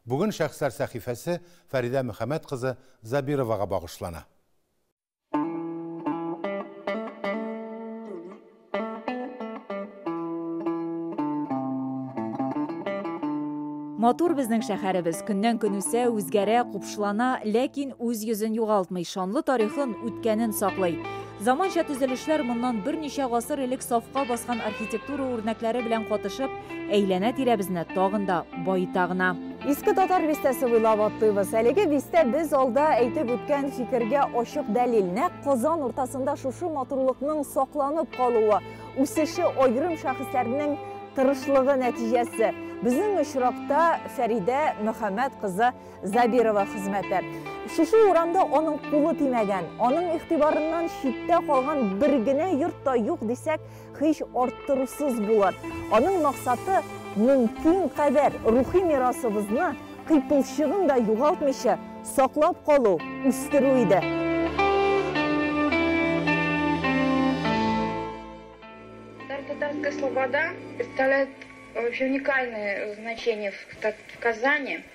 Бүген Шәхесләр сәхифәсе Фәридә Мөхәммәт кызы Забировага багышлана. Матур безнең шәхәребез, көннән-көн үсә, үзгәрә, купшылана, ләкин үз йөзен югалтмый, шанлы тарихын, үткәнен саклый. Заманча төзелешләр моннан берничә гасыр элек сафка баскан архитектура үрнәкләре белән катышып, әйләнә-тирәбезне тагын да баета гына. Иске Татар бистәсе буйлап атлыйбыз. Әлеге бистә без алда әйтеп үткән фикергә ачык дәлил. Нәкъ Казан уртасында шушы матурлыкның сакланып калуы, үсеше аерым шәхесләрнең тырышлыгы нәтиҗәсе. Безнең очракта Фәридә Мөхәммәт кызы Забирова хезмәте. Шушы урамда аның кулы тимәгән, аның игътибарыннан читтә калган бер генә йорт та юк дисәк, һич арттырусыз булыр. Аның максаты мөмкин кадәр рухи мирасыбызны кыйпылчыгын да югалтмыйча саклап калу, үстерү иде. Татарская слобода представляет вообще уникальное значение в Казани.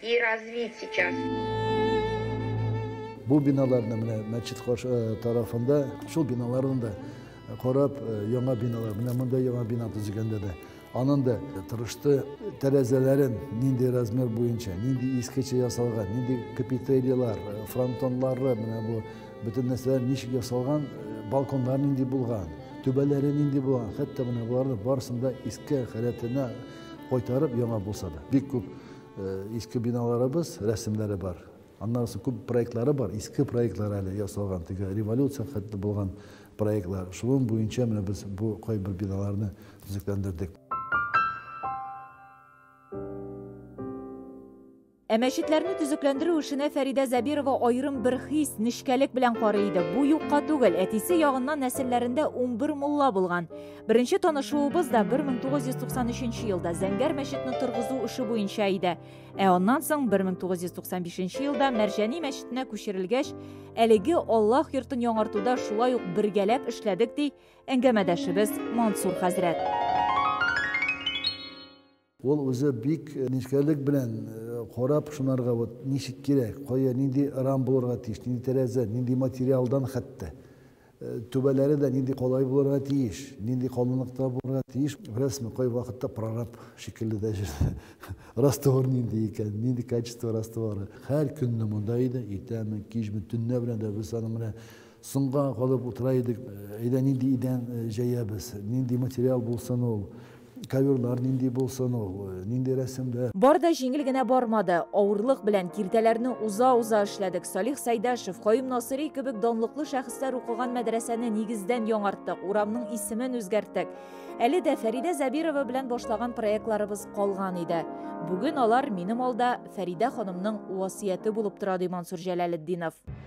И развить сейчас. Бу биналарны менә мәчет каршы э, тарафында, шул биналарны да э, карап, э, яңа биналар, менә монда яңа бина төзегәндә дә анын да тырышты тәрәзәләрен нинди размер буенча, нинди искечә ясалган, нинди капителиялар, фронтонлары, менә бу бөтен нәрсәләр ничек ясалган, балконлар нинди булган, түбәләре нинди булган, хәтта менә буларны барысын да иске халәтенә кайтарып яңа булса да. Бик күп Э, иске биналарыбыз рәсемнәре бар аннан соң күп проектлары бар иске проектлар әле ясалган теге революция хәтле булган проектлар шуның буенча менә без бу кайбер биналарны төзекләндердек Ә мәчетләрне төзекләндерү эшенә Фәридә Забирова аерым бер хис, нечкәлек белән карый иде. Бу юкка түгел, әтисе ягыннан нәселләрендә 11 мулла булган. Беренче танышуыбыз да 1993 елда Зәңгәр мәчетне торгызу эше буенча иде. Ә аннан соң 1995 елда Мәрҗәни мәчетенә күчерелгәч, әлеге Аллаһ йортын яңартуда шулай ук бергәләп эшләдек, ди әңгәмәдәшебез Мансур хәзрәт. Ул үзе бик нечкәлек белән карап, шунарга вот ничек кирәк, кая, нинди рам булырга тиеш, нинди тәрәзә, нинди материалдан хәтта. Түбәләре дә нинди калай булырга тиеш, нинди калынлыкта булырга тиеш. Беләсезме, кайвакытта прораб шикелле дә җирдә раствор нинди икән, нинди качество растворы. Һәр көнне монда иде, иртәме, кичме, төнлә белән дә без аның белән Соңга калып утыра идек, әйдә нинди идән җәябез, нинди материал булсын ул, коверлар нинди булсын ул, нинди рәсемләр. Бар да җиңел генә бармады. Авырлык белән, киртәләрне уза-уза эшләдек. Салих Сәйдәшев, Каюм Насыйри кебек данлыклы шәхесләр укыган мәдрәсәне нигездән яңарттык, урамның исемен үзгәрттек. Әле дә Фәридә Зәбирова белән башлаган проектларыбыз калган иде. Бүген алар минем алда Фәридә ханымның васыяте булып тора, ди Мансур Җәләлетдинов.